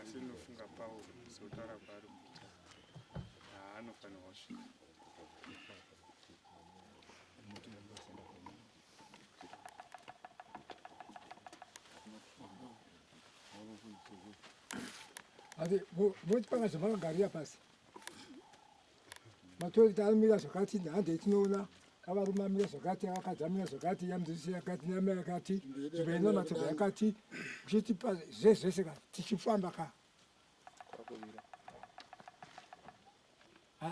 asi ndinofunga pauro sotaura kwaari kuita haanofanirwa kusvika Ade, vou te pagar chamar uma garia para si. Matoilet amira zvakati nhande tinoona avarume amira zvakati avakadzi amira zvakati yamudzidzisi yakati neamai yakati nzvimbo ina matoba yakati uchitipa zvezvese ka tichifamba ka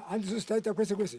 handizvo zitaita kwese kwese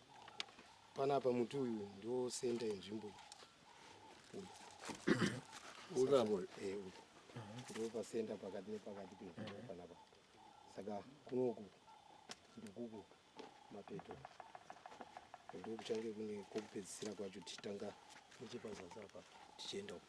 Panapa muti uyu ndo center yenzvimbo iyi. Uyu. Uravo. Eh, uyu. Ndo pa center pakati nepakati penzvimbo mm-hmm. panapa. Saka kunoku ndikuku mapeto. Ndo kuchange kune kokupedzisira kwacho tichitanga nechepazasi apa tichienda uko.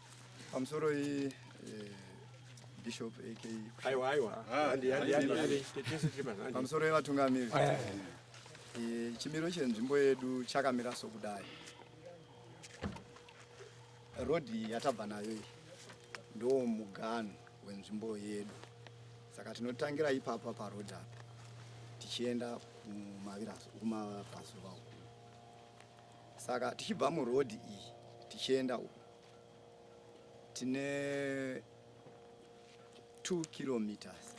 Pamsoroi eh, Bishop AK. Aiwa aiwa. Ah, andi andi andi. Pamsoroi vatungamiri. Ah, eh, chimiro chenzvimbo yedu chakamira sokudai. Rodhi yatabva nayo iyi ndoo muganhu wenzvimbo yedu saka tinotangira ipapa parodhi apa tichienda kumaviraso kumabhazuva uku saka tichibva murodhi iyi tichienda uku tine 2 kilometers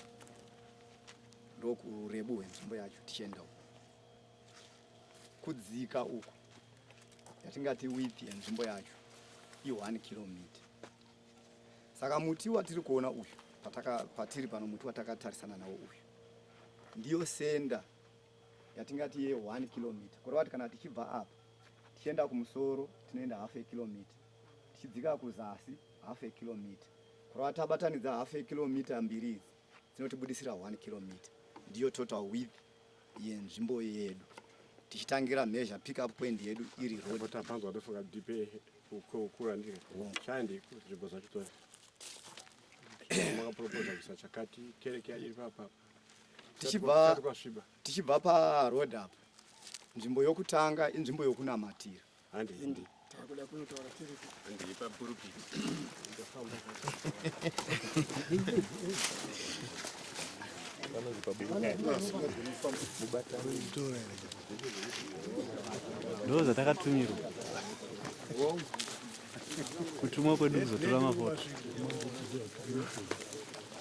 ndokurebu hwenzvimbo yacho tichienda uku kudzika uku yatingati width yenzvimbo yacho i1 kilometer saka muti watiri kuona uyu pataka patiri pano muti watakatarisana nawo uyu ndiyo senda yatingati ye one kilometer kureva kuti kana tichibva apa tichienda kumusoro tinoenda half a kilometer tichidzika kuzasi half a kilometer kureva tabatanidza half a kilometer mbiri idzi dzinotibudisira one kilometer ndiyo total width yenzvimbo yedu tichitangira measure pick up point yedu iri road tapanzwa tofunga dipe kukura ndike chandi nzvimbo zvacho toya makaproposa kuisa chakati kereke iri papapa tichibva tichibva paroad apa nzvimbo yokutanga inzvimbo yokunamatira handiendi takuda kunotaura tiripo handii papurupiti ndofamba ndo zvatakatumirwa kutumwa kwedu kuzotora mafoto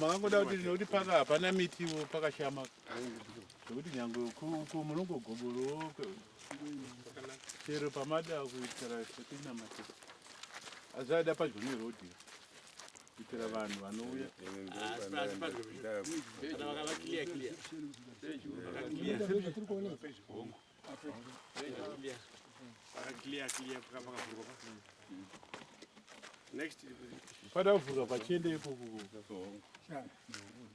makangoda kuti nekuti paka hapana mitiwo pakashama zvekuti nyangwe uku munongogoborowo chero pamada kuitira setinamatea azvaida padyo nerodhi kuitira vanhu vanouya pada kuvhurwa pachiende ipoko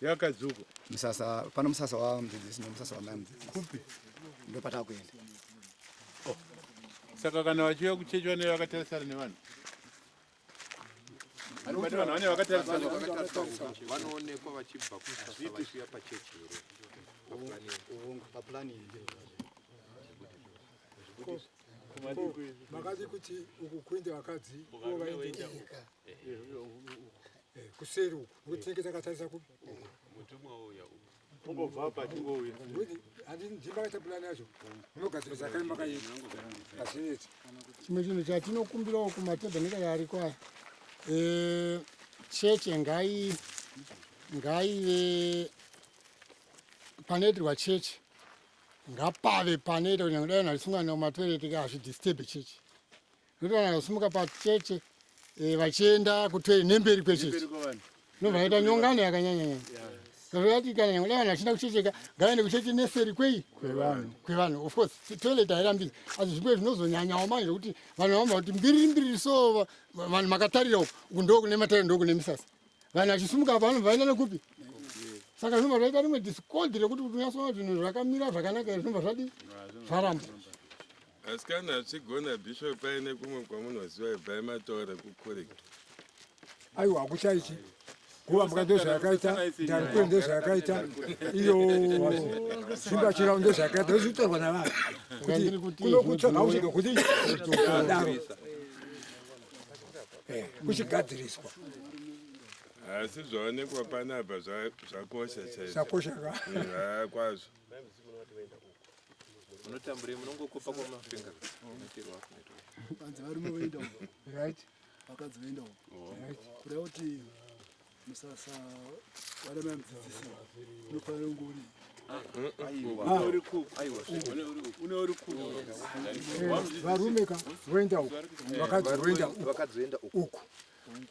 yakadzuko musasa pano musasa wamudzidzisi nemusasa wamai mudzidzisi kupi ndo patava kuenda oh. saka kana vachiuya kuchechi vanee vakatarisana nevanhu anobati vanhu vane vakatarisana vanoonekwa vachibva kusasa vachiuya pachechi here papulani makadii kuti uku kuende vakadzi ko vaendeka kuseri uku ndinenge takatarisa ku mutumwa uya uku umbobva apa tingouya ndimakaita pulani yacho unogadzira zvakai makaita azvineti chimwe chinhu chatinokumbirawo kumatabheneka yaariko aya eh, cheche ngai ngaive panoitirwa cheche ngapave panoita kunyangwe dai nharisungana matwereti hazvidisturbe cheche Ndotoona kusimuka pacheche eh, vachienda kutoilet nemberi kwecheche. Ndovaita nyongano yakanyanya nyanya. Zvati kana nyangwe vanhu vachida kuchecheka ngaende kucheche neseri kwei kwevanhu kwevanhu of course toilet hairambidzi asi zvimwe zvinozonyanyawo manje zvekuti vanhu vamba kuti mbiriri mbiriri so vanhu makatarira uku uku ndo kune matariro ndo kune misasa vanhu vachisumuka apa vanobva vaenda nekupi saka zvinobva zvaita rimwe discord rekuti kuti unyasoona zvinhu zvakamira zvakanaka zvinobva zvadi zvaramba Asikana hachigona bishop paine kumwe kwamunoziva ibvai mataura kukurika. Aiwa hakuchaichi kuva mbuka ndozvayakaita ndarikwe ndozvayakaita iyo simba chirau ndozvayakaita zvitorwa navanhu kuti kunokutsvaga usvike kuti daro eh, kuchigadziriswa asi zvaonekwa panapa zvakosha chaizvakosha ka eh, kwazvo Unotamburei munongokopa kwa mafinga. Unotirwa hapo neto. Panzi varume voenda uko. Right. Vakadzi voenda uko. Right. Kuda kuti musasa vana mamdzidzisi unofanira kunge uri varume ka voenda uko vakadzi voenda uko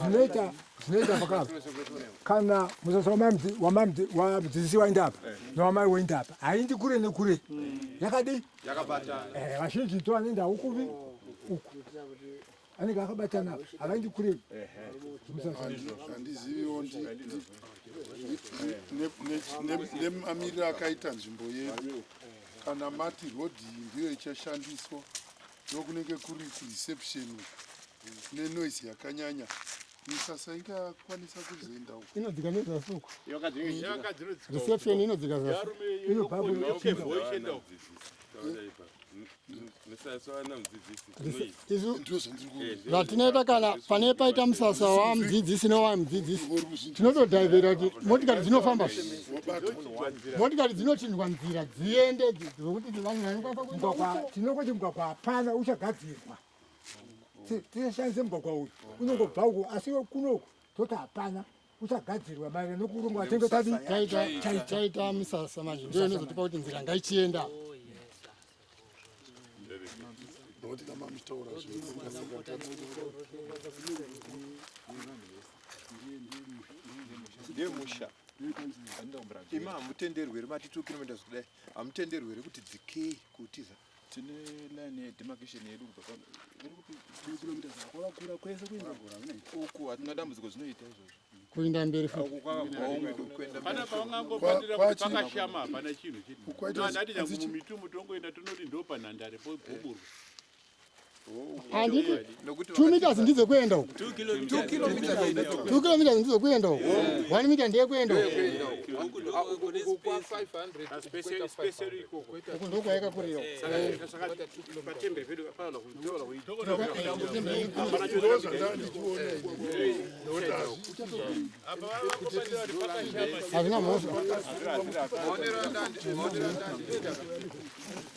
zvinoita zvinoita pakapa kana musasa wamudzidzisi wainda apa newamai woinda apa haindi kure nekure yakadii vazhinji to vanoenda ukuvi uku anenge akabatana havaendi kure handiziviwo nemamiriro akaita nzvimbo yedu kana mati rodhi ndiyo ichashandiswa ndokunenge kuri kureception nenoise yakanyanya misasa ingakwanisa kuzoenda uko inodzika nezasuku reception inodzika zasuku zvatinoita eh, kana pane paita musasa wamudzidzisi newamudzidzisi tinotodhaivhera kuti motikari dzinofamba motikari dzinochinjwa nzira dziende dzokuti tinongoti mugwagwa hapana uchagadzirwa tishandise mugwagwa uyu unongobva uku asi kunoku toti hapana kuchagadzirwa maererano nokurongwa chinge chaita misasa manje ndiyo inozotipa kuti nzira ngaichienda nokuti kama muchitaura zvinhumusha imi hamutenderweri matitukinomenda zvikudai hamutenderweri kuti dzikei kutiza tine line yedemarcation yedu kubva kilometer kwakakura kwese kuenda uku hatina dambudziko zvinoita izvozvo kuenda mberi fuipana pavangangobatira kuti pakashama hapana chinhu chinoandati nyangumumitumbu tongoenda tonoti ndopanhandare pogoburwa handiti two meters ndidzo kuenda uko two kilometers ndidzo kuenda uko one meter ndeye kuenda uko ndokwayakakurira hazvina mhosva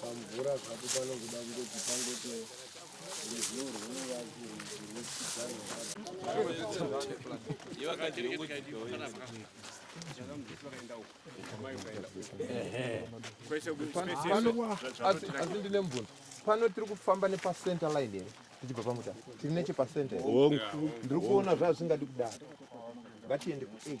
pamvura zvapo panokuda kungoti pangoto asi ndine mvunzo pano tiri kufamba nepacenter line here tichibva pamuta tiri nechepacenter ndiri kuona zvazvingadi kudaro ngatiende kuage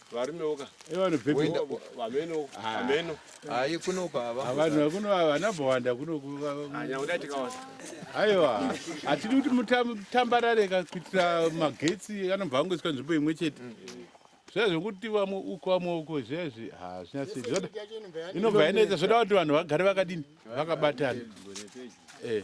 varumewo ka vameno vameno hayi kuno baba vanhu kuno havana bhowanda kuno nyakuda tikaona aiwa hatidi kuti mutambarare ka kuitira magetsi anobva angoiswa nzvimbo imwe chete zviya zvekuti vamwe uko vamwe uko zviya izvi hazvina sei zvoda inobva yanetsa zvoda kuti vanhu vagare vakadini vakabatana eh.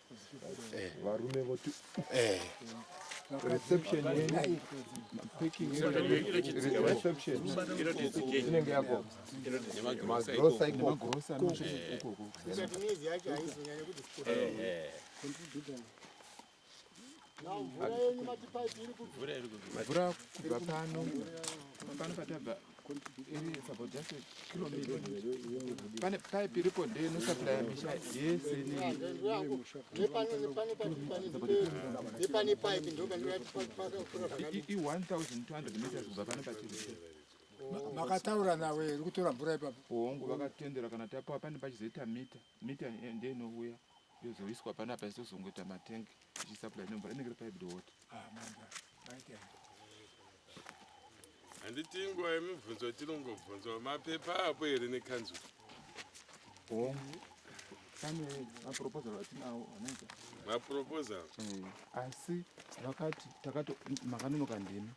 varume voti eh. reception inenge yako magrosa ikoko mvura yenyu matipaipi iri kubvura iri kubvura mvura kubva pano pano patabva pane paipi iripo nde inosaplaya misha yese i1200 meters kubva pano patiri makataura nawe iri kutora mvura ipapo hongu vakatendera kana tapawa pane pachizoita mita mita nde inouya yozoiswa panapa isozongoita matengi Zvichisupply nemvura inenge iri piped water. Ah, mvura. Maita. Handiti inguva yemibvunzo tinongobvunzwa mapepa apo here nekanzuru? Oh. Pane maproposal atinawo anoita. Maproposal? Eh, asi vakati takati makanonoka ndimi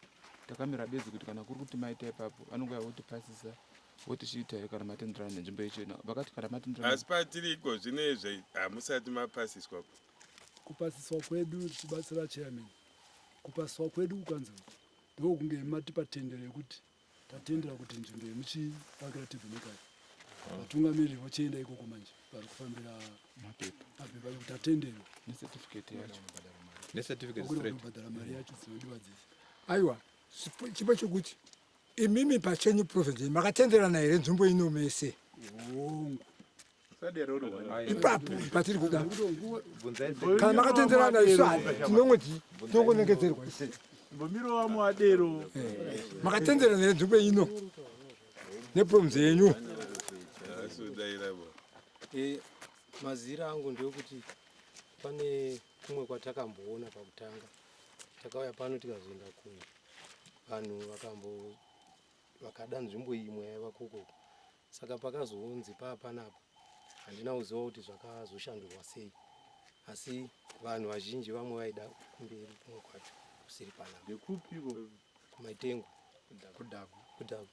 takamira bedzi kuti kana kuri kuti maita ipapo vanonge votipasisa votichiita kana matenderana nenzvimbo yechena vakati kana matenderana asi patiri iko zvino izve hamusati mapasiswa kupasiswa kwedu tichibatsira chairman kupasiswa kwedu kukanzi ndokunge matipa tendero yekuti tatendera kuti nzvimbo yemuchivakira tevhenekari vatungamiriri vochienda ikoko manje vari kufambira mapepa kuti tatenderwa necertificatebhadhara mari yacho dzinodiwa dzese aiwa chipo chokuti Imimi pachenyu province makatenderana here nzvimbo ino mese? Ipapo patiri kuda kana makatenderana isu tinongo tinongonengedzerwa mbomirova muadero eh, makatenderana here nzvimbo ino neprovince yenyu? Eh, mazira angu ndeokuti pane kumwe kwatakamboona pakutanga takauya pano tikazoenda kuno vanhu vakambo vakada nzvimbo iyi imwe yaiva koko saka pakazounzi paa panapa handina kuziva kuti zvakazoshandurwa sei asi vanhu vazhinji vamwe vaida kumberi kumwe kwacho kusiri panapa ndekupiko kumaitengo kudhagu kudhagu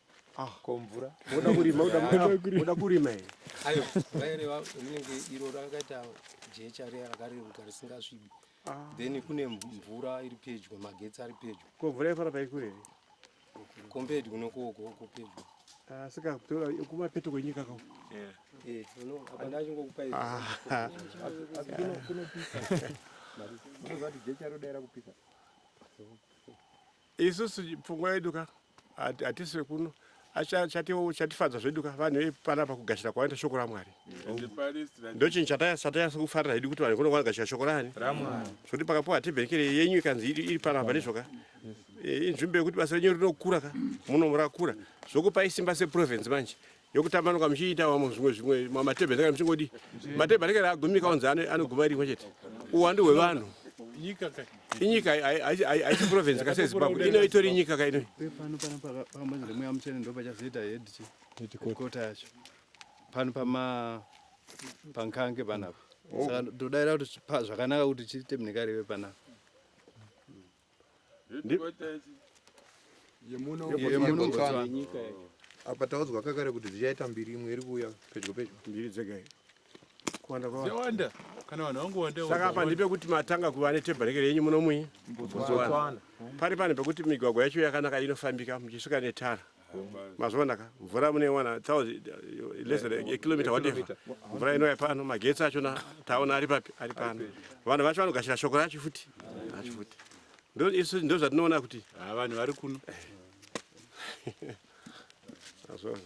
ko mvura woda kurima woda kurima woda kurima here ayo vaireva rinenge iro rakaita jecha riya rakareruka risingasvibi then kune mvura iri pedyo magetsi ari pedyo ko mvura yaifara paikure here compared kunokoko uko pedyo saka kumapeto kwenyika ko isusu pfungwa yedu ka hatisi vekuno chatifadza zvedu ka vanhu vepana pakugashira kwavanoita shoko ramwari ndochinhu chatayasa kufarira hedu kuti vanhu kuno vanogashira shoko rani zvekuti pakapuwa tebhenekere yenyu ikanzi iri pano apa ndizvoka eh, inzvimbo yekuti basa renyu rinokura ka munomurakura zvokupai simba seprovince manje yokutambanuka muchiita vamwe zvimwe zvimwe mamatebhe anenge muchingodi matebhe anenge agumika onzi anoguma rimwe chete uwandu hwevanhu inyika haisi province ka sezimbabwe ino itori nyika ka inoi pano pama pankange panapa oh. saka todaira kuti zvakanaka kuti chiite mnekarive panapa yemunobotswana apa taudzwa kakare kuti dzichaita mbiri imwe iri kuuya pedyo pedyo mbiri dzega kuwanda kwawanda kana vanhu vangowanda saka apa ndipe kuti matanga kuva netebhareke renyu munomwi botswana pari pane pekuti migwagwa yacho yakanaka inofambika muchisvika netara mazvionaka mvura munewana kilomita wadefa mvura inouya pano magetsi achona taona ari papi ari pano vanhu vacho vanogashira shoko racho futi acho futi isu ndo zvatinoona kuti ah, vanhu vari kuno azvona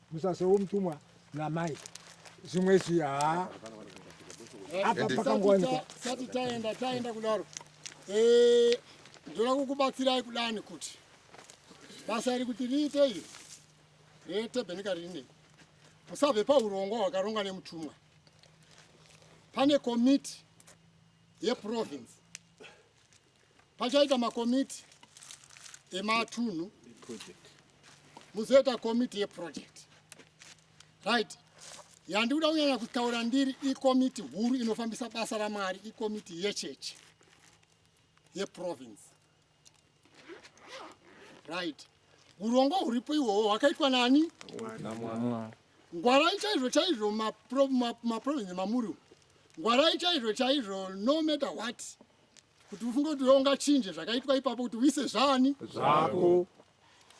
Musasa womutumwa namai zvimwe izvi haa apa pakangowanikwa sati taenda taenda kudaro eh, ndoda kukubatsirai kudani kuti basa iri kuti riite iri retebhenika ririnei musabve paurongwa hwakarongwa nemutumwa pane komiti yeprovince Pachaita makomiti ematunhu muzoita komiti yeproject right yandi kuda kunyanya kutaura ndiri ikomiti huru inofambisa basa ramwari ikomiti yechechi yeprovince right urongo huripo ihwohwo hwakaitwa nani ngwarai chaizvo chaizvo maprovince mamuri ngwarai chaizvo chaizvo no matter what kuti ufunge kuti wewe ungachinje zvakaitwa ipapo kuti uise zvani zvako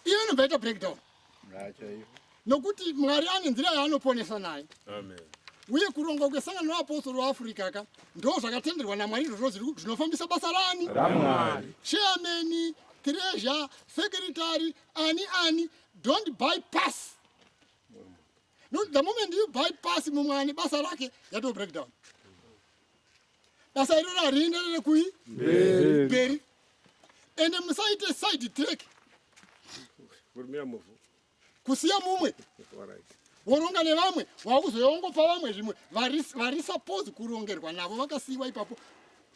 iyo inobva ita breakdown nokuti mwari ane nzira yaanoponesa naye uye kurongwa kwesangano reapostori weafrica ka ndo zvakatenderwa namwari izvozvo zviri ku- zvinofambisa basa rani ramwari chairman treasure secretary ani ani don't bypass no, the moment you bypass mumwe ane basa rake yato breakdown basa iroro harienderere kui mberi ende musaite side track kusiya mumwe woronga nevamwe wakuzoya wongopa vamwe zvimwe vari suppose kurongerwa navo vakasiyiwa ipapo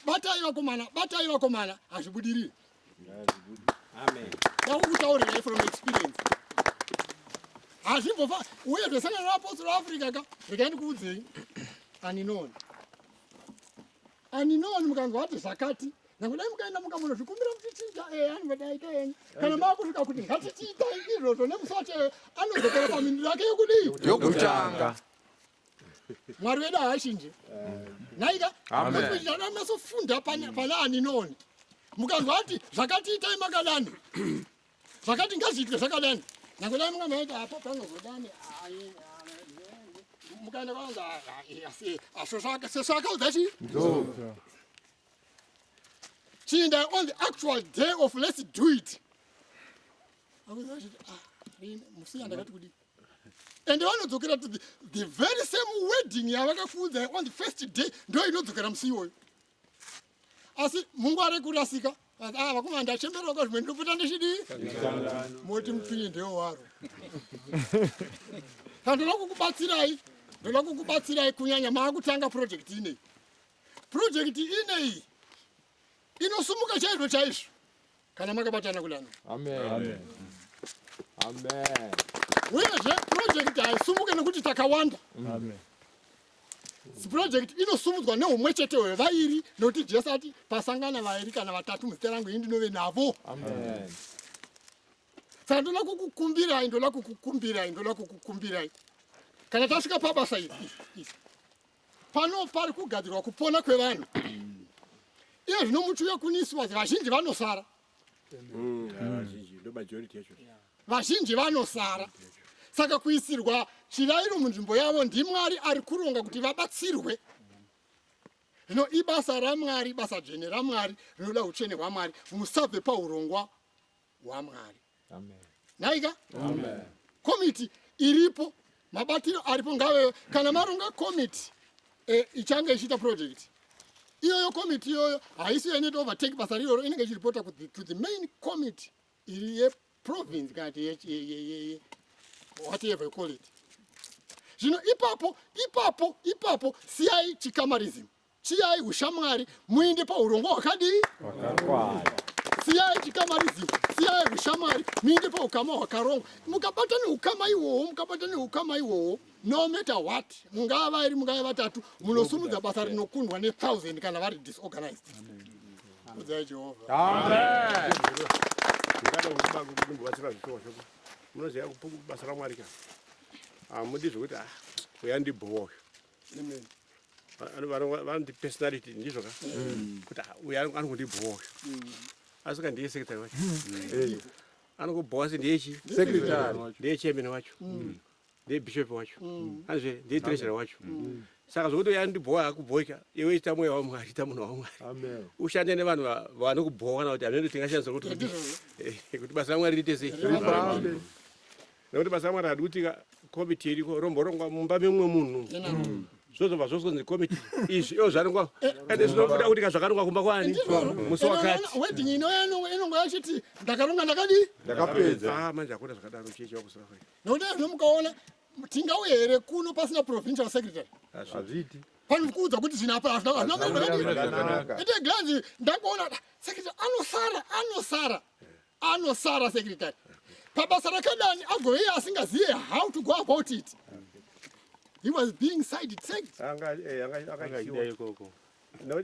batai vakomana batai vakomana hazvibudirire ndaukutaurirai from experience hazvimbofa uye zvesangano raapostolo africa ka rekai ndikuudzei aninoni aninoni mukanzwa ati zvakati nakudai mukaenda mukamona zvikumbira kuti tiita e eh, anivadaika enyu kana makusvika kuti ngatitiitai izvozvo nemusi wacho anozokera pamindiro yake yekudii yokutanga mwari wedu haachinje nhaika masofunda pane ani noone mukanzwa ati zvakati itai makadani zvakati ngazviitwe zvakadani nyange dai munga maita apo panozodani mukaenda kwanza sesvakaudza chii chiindai on the actual day of let's do it akuti achiti ah musi yandakati kudii ende vanodzokera to the, the very same wedding yavakakuudzai on the first day ndo inodzokera musi iwoyo asi mungu ari kurasika ah, vakomana ndachemberawo ka zvimwe ndinopota ndichidii moti mupinyi ndewo waro ka ndoda kukubatsirai ndoda kukubatsirai kunyanya maakutanga projekti inei projekti inei inosumuka chaizvo chaizvo kana makabatana kudana amen amen uyezve purojekiti haisumuke nekuti takawanda amen project inosumudzwa neumwe chete hwevairi nokuti jesu ati pasangana vairi kana vatatu muzita rangu ini ndinove navo saka ndoda kukukumbirai ndoda kukukumbirai ndoda kukukumbirai kana tasvika pabasa iri Pano pari kugadzirwa kupona kwevanhu iye zvino muti uye kuniswa vazhinji vanosara mm, vazhinji vanosara saka kuisirwa chirairo munzvimbo yavo ndimwari ari kuronga kuti vabatsirwe zvino ibasa ramwari basa dzvene ramwari rinoda utsvene hwamwari musabve paurongwa hwaMwari. Nhaika komiti iripo, mabatiro aripo ngaveyo. Kana maronga komiti e, ichange ichiita project iyoyo, komiti iyoyo haisi inoita overtake basa riroro, inenge ichiripota to the main committee iri yeprovince kana kuti whatever you call it. Zvino ipapo ipapo ipapo siyai chikamarism Siyai ushamwari muinde paurongwa hwakadii? Hwakakwana. Siyai chikamarizivo, siyai ushamwari muinde paukama hwakarongwa. Mukabata neukama ihwohwo, mukabata neukama ihwohwo, no matter what, mungava vairi, mungava vatatu, munosumudza basa rinokundwa nethousand kana vari disorganized. Kudzai Jehovha. Amen. Ndikada kukuba kuti ndimbobatsira zvitoo zvako. Munoziva basa raMwari kana. Hamudi zvekuti ah, uya ndibhowa uyu. Amen. vanoti personality ndizvo ka mm. kuti ah, uyu anongondibhowa mm. asi ka ndiye secretary wacho mm. anongobhowa se ndiye chi ndiye chairman wacho ndiye bishop wacho anizve ndiye treasurer wacho saka zvokuti uya ndibhowa akubhoika iwe ita mweya wamwari ita munhu wamwari ushande nevanhu vanokubhowa kana kuti amene tingashandisa kuti eh, basa ramwari riite sei nekuti basa ramwari hadi kuti komiti iriko romborongwa mumba memumwe munhu zvozobva zvozonzi komiti izvi iyo zvarongwa ende zvinobuda kuti kazvakarongwa kumba kwani musi wakatiweding inonga yachiti ndakaronga ndakadi ndakapedza ah, manje akuda zvakadaro chechi wakusira kwai nokuti azvino mukaona tingauye here kuno pasina provincial secretary hazviiti panokuudza kuti zvino apa hazvinakuita glanzi ndakuona secretary anosara anosara anosara secretary pabasa rakadani agove iye asingazive how to go about it he was being side tracked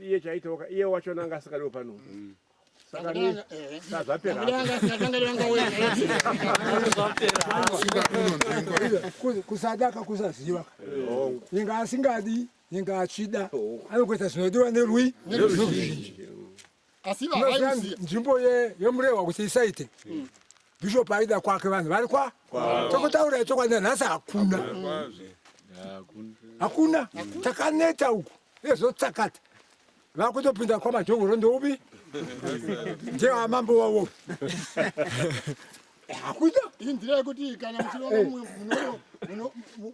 iye chaitoka iye wacho nanga asikadiwo pano mm. kusadaka kusaziva inga asingadi inga achida anokuita zvinodiwa nerwi neruzhinji asi vavaiuziva nzvimbo yemurehwa kuti isaite hmm. bishop aida kwake vanhu vari kwa tokotaura chokwadi nanhasi hakuna hakuna takaneta uku ezvotsakata vakutopinda kwamadhongoro ndoupi ndeamambo wavo hakuita inzira yekuti kana muchironga eh. mumwe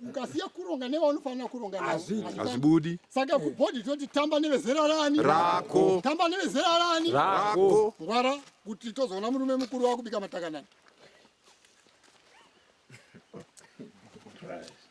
ukasiya kuronga nevaunofanira kuronga hazvibudi saka kubhodhi toti tamba nevezera rani rako tamba nevezera rani rako ngwara kuti tozoona murume mukuru wakubika matakanana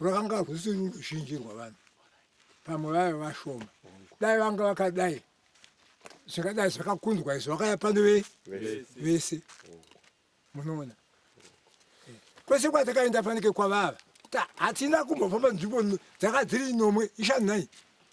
rwakanga rwusiri ruzhinji rwavanhu pamwe vaiva vashoma dai vanga vakadai zvingadai zvakakunzwa izvo vakaya pano vese munoona eh, kwese kwatakaenda fanike kwavava hatina kumbofamba nzvimbo dzakadziri nomwe ishanai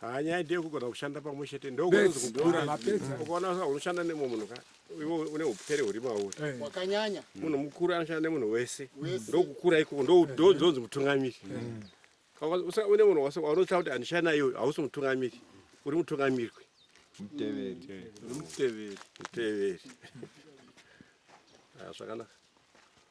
Haa nyaya ndiye kugona kushanda pamwe chete ndokuukaona sa unoshanda nemwe munhu ka iwe une upere huri mauri eh. wakanyanya munhu mukuru anoshanda nemunhu wese ndokukura ikoko ndozonzi mutungamiri mm. une munhu wase waunotsa kuti andishaya naye uyu hausi mutungamiri uri mutungamirwi muteveri uri muteveri muteveri ah, zvakanaka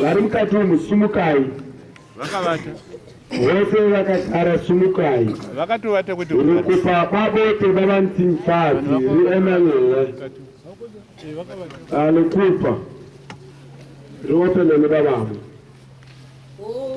Vari mukati umu sumukai. Vakavata. Vose vakagara sumukai. Vakatovata kuti rukupa kwavo tebaba mtsimfazi riEmanuel. Alukupa. Riopene nebabamo. Oh.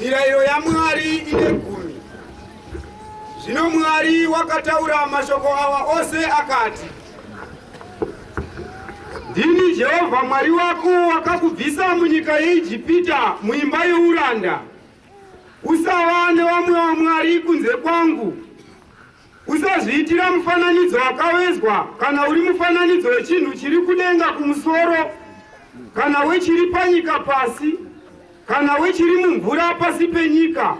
Mirayiro yaMwari ine gumi. Zvino Mwari wakataura mashoko awa ose akati, Ndini Jehovha Mwari wako wakakubvisa munyika yeIjipita, muimba youranda. Usava newamwe wamwari kunze kwangu. Usazviitira mufananidzo wakavezwa, kana uri mufananidzo wechinhu chiri kudenga kumusoro, kana wechiri panyika pasi, kana wechiri mumvura pasi penyika.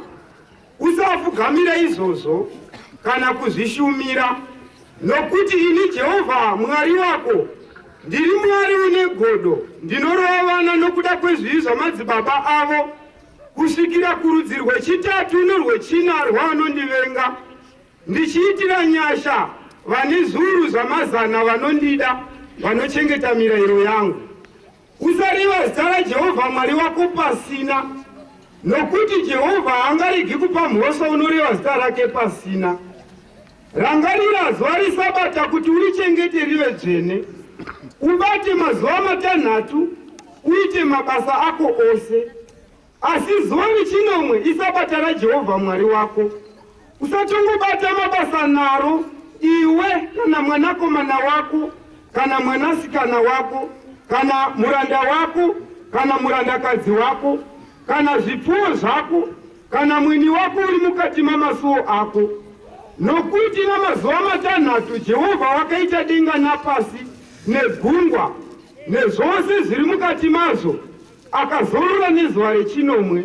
Usafugamira izvozvo kana kuzvishumira, nokuti ini Jehovha Mwari wako ndiri Mwari une godo, ndinorova vana nokuda kwezvivi zvamadzibaba avo kusvikira kurudzi rwechitatu norwechina rwaanondivenga, ndichiitira nyasha vane zviuru zvamazana vanondida, vanochengeta mirayiro yangu. Usareva zita raJehovha Mwari wako pasina, nokuti Jehovha haangaregi kupa mhosva unoreva zita rake pasina. Rangarira zuva reSabata kuti urichengete rive dzvene, ubate mazuva matanhatu uite mabasa ako ose. Asi zuva rechinomwe iSabata raJehovha Mwari wako. Usatongobata mabasa naro iwe kana mwanakomana wako kana mwanasikana wako kana muranda wako kana murandakadzi wako kana zvipfuwo zvako kana mwini wako uri mukati mamasuo ako, nokuti namazuva matanhatu Jehovha wakaita denga napasi negungwa nezvose zviri mukati mazvo, akazorora nezuva rechinomwe.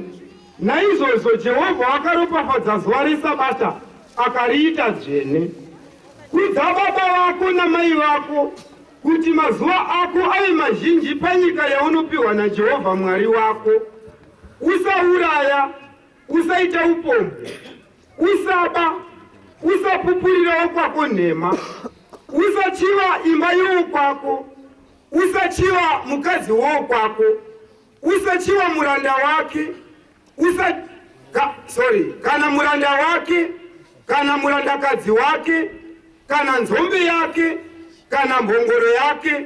Naizvozvo Jehovha wakaropafadza zuva reSabata akariita dzvene. Kudza baba vako namai vako kuti mazuva ako ave mazhinji panyika yaunopiwa naJehovha Mwari wako. Usauraya, usaita upombwe, usaba, usapupurira wokwako nhema, usachiva imba yowokwako, usachiva mukadzi wowokwako, usachiva muranda wake, usa ka, sorry, kana muranda wake, kana murandakadzi wake, kana nzombe yake, kana mbongoro yake,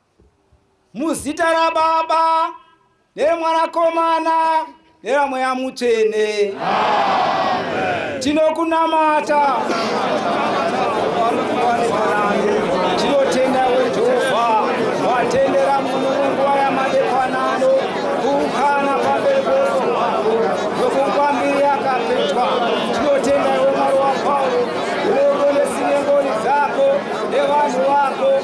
Muzita raBaba nereMwanakomana neramweya mutsvene tinokunamata tinotenda wejehovha watendera mununguva yamadekwanano kuukana pamberi kwesohwako yokukwambiri yakapetwa tinotenda iwe mwari wapauro uneuro nesinengoni dzako nevanhu vako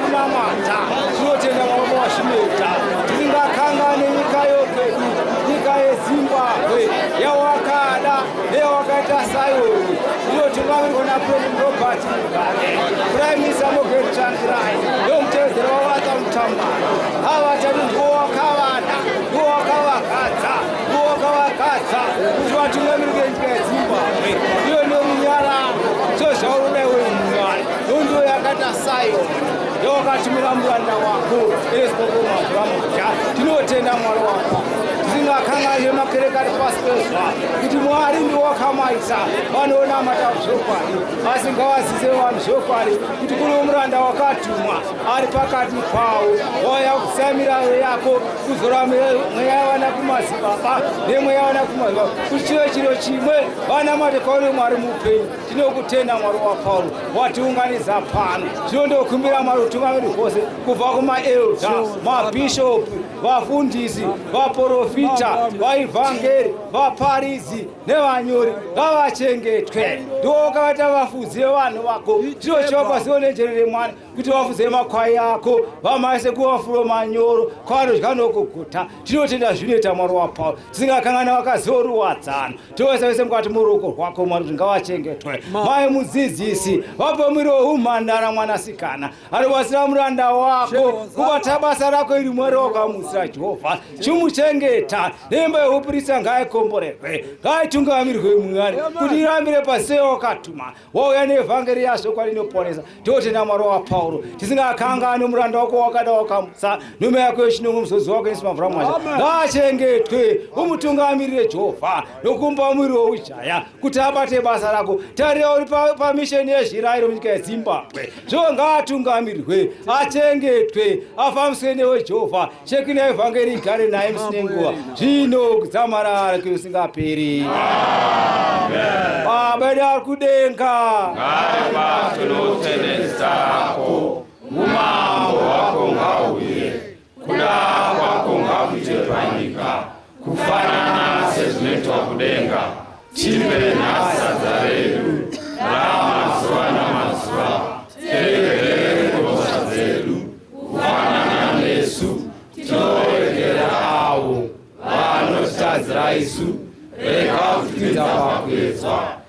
kunamata tinotenda mama washimeta tisingakangane nyika yokwedu nyika yezimbabwe yawakada neyawakaita sayoni iyo tingavirwa napresident robert mugabe prime minister mogen changirai yomutevedzera wavata mutambano avatati ndiwo wakavada ndiwo wakavakadza ndiwo wakavakadza kuti vatungamirike nyika yezimbabwe Nundu yakati asayo ndokatumira muranda wako eezvokomaamudya tinotenda mwari wako tisingakanganire makereke ari pasi pezva kuti mwari ndiwakamaisa vanonamata zvokwadi asi ngawazise vanhu zvokwadi kuti kuno muranda wakatumwa ari pakati pavo waya kusamiraro yako kuzora mweya yavana kumazibaba nemweya yavana kumazibaba kuti chive chiro chimwe vanamate kwaone mwari mupenyu Tinokutenda Mwari waPauro watiunganidza pano. Zvino ndokumbira Mwari utungamiri hwose kubva kumaelda, mabhishopu, vafundisi, vaporofita, vaivhangeri, vaparidzi nevanyori ngavachengetwe. Ndiwo wakavaita vafudzi vevanhu vako. Ndiro chivapazivo nenjere remwana kuti vafudze makwai ako vamaise kumafulo manyoro kwavanodya nokuguta tinotenda zvinoita mwari wapauro tisingakan'ana vakaziva uri wadzano tovese vese mukati muruoko rwako mwari kuti ngavachengetwe mai mudzidzisi vape mwiri weumhandara mwanasikana anobatsira muranda wako kubata basa rako iri mwari wakamutsira jehovha chimuchengeta nemba yehupurisa ngaikomborerwe ngaitungamirwe mwari kuti irambire pasei wakatuma wauya neevhangeri yazvo kwarinoponesa totenda mwari wapauro tisingakanganwe muranda wako wakada wakamutsa nhume yako yechinongo muzodzi wako yesu mavhura mwasha ngaachengetwe umutungamirire jehovha nokumba muviri weujaya kuti abate basa rako tarira uri pamisheni pa yezvirairo munyika yezimbabwe zvo ngaatungamirirwe achengetwe afambiswe newe jehovha Cheki na evhangeri igare naye musi nenguva zvino kudzamarara kweusingaperi. Baba edu ari kudenga, ngaibatwe nokutenesa hako umambo hwako ngauye kuda kwako ngakuite panyika Kufanana sezvinoitwa kudenga, tive nasadza redu ramazuva namazuva, teregerere mhosva dzedu, kufanana nesu tinoregera avo vanotadzira isu, rega kutipinza pakuedzwa,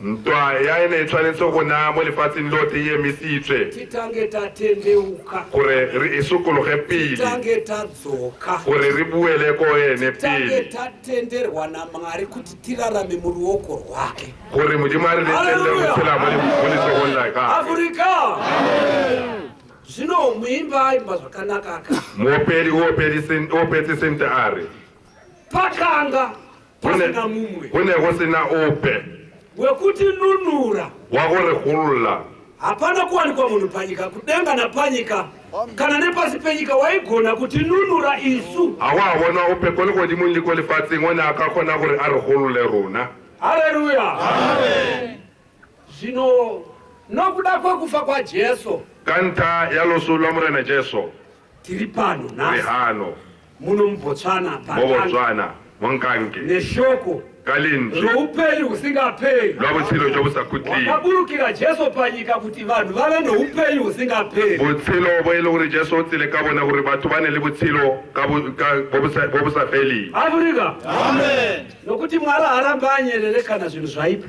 Ntwa yaine itsva netsoko namo lefatsi ndote iye misi itsve. Titange tatendeuka. Kure ri isukuluhe pili. Titange tadzoka. Kure ri buele ko ene pili. Titange tatenderwa na Mwari kuti tirarame mu ruoko rwake. Kure mudi Mwari ne tende kutsela muli muli soko nlaka. Afrika! Zvino muimba aimba zvakanaka aka. Mopeli opeli sin opeti sinte ari. pakanga pasina mumwe go ne go sena ope wekutinunura wakurihulula hapana kuwanikwa munhu panyika kudenga napanyika kana nepasi penyika waigona kutinunura isu hawahavona ope koni kodimo nyiko lifatsing one akakona kuri arihulule runa haleluya zvino nokuda kwekufa kwajesu ka nta ya loso lwa murena jesu Tiri pano nhasi. Rehano. Muno muBotswana. MuBotswana. Munkange. Neshoko. Kalindi. Roupenyu husingaperi. Lwabutsilo jobusakutli. Wakaburukira Jesu panyika kuti vanhu vave noupenyu husingaperi. Butsilo boele gore Jesu otsile ka bona gore batho bane le butsilo ka bobusafeli. Afrika. Amen. Nokuti Mwari harambe anyerere kana zvinhu zvaipa.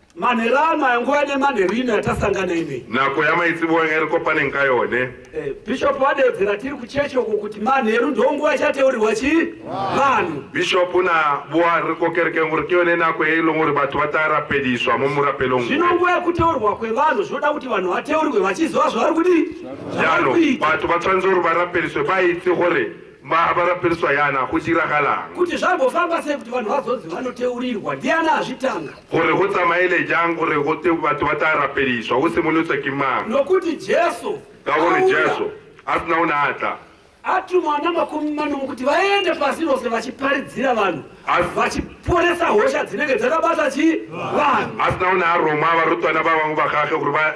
Manhero ano aya nguva ine manhero ino yatasangana inei. Nako yamaitsibuwa ngeri ko pane nkayone. Eh, Bishop wadedzera tiri kuchechi uko kuti manheru ndo nguva chateurirwa chi vanhu. Bishop na buwa riko kereke nguri kiyone nako yeilo nguri batu batara pediswa mumura pelongu. Zvino nguva yekuteurwa kwevanhu zvoda kuti vanhu vateurwe vachiziva zvavari kudii. Yano batu batsanzuru barapediswe baitsi gore. Mahabha rapereswa yana go diragalang? Kuti zvambofamba sei kuti vanhu vazonzi vanoteurirwa ndiani azvitanga? Gore go tsamaile jang gore go te batho ba tla rapeliswa go simolotswa ke mang? Nokuti Jesu Ka gore auya, Jesu a sina o ne a tla atuma ana makumi manomwe kuti vaende pasi rose vachiparidzira vanhu Asi- vachiporesa hosha dzinenge dzakabata chi vanhu a sina o ne a roma barutwana ba bangwe ba gage gore ba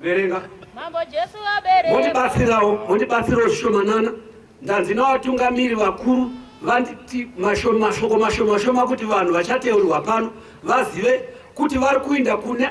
Verenga. Mambo Jesu vabereka. Mondibatsirawo, mondibatsirawo zvishomanana. Ndanzi navatungamiri vakuru vanditi mashoma mashoko mashoma shoma kuti vanhu vachateurwa pano vazive kuti vari kuinda kune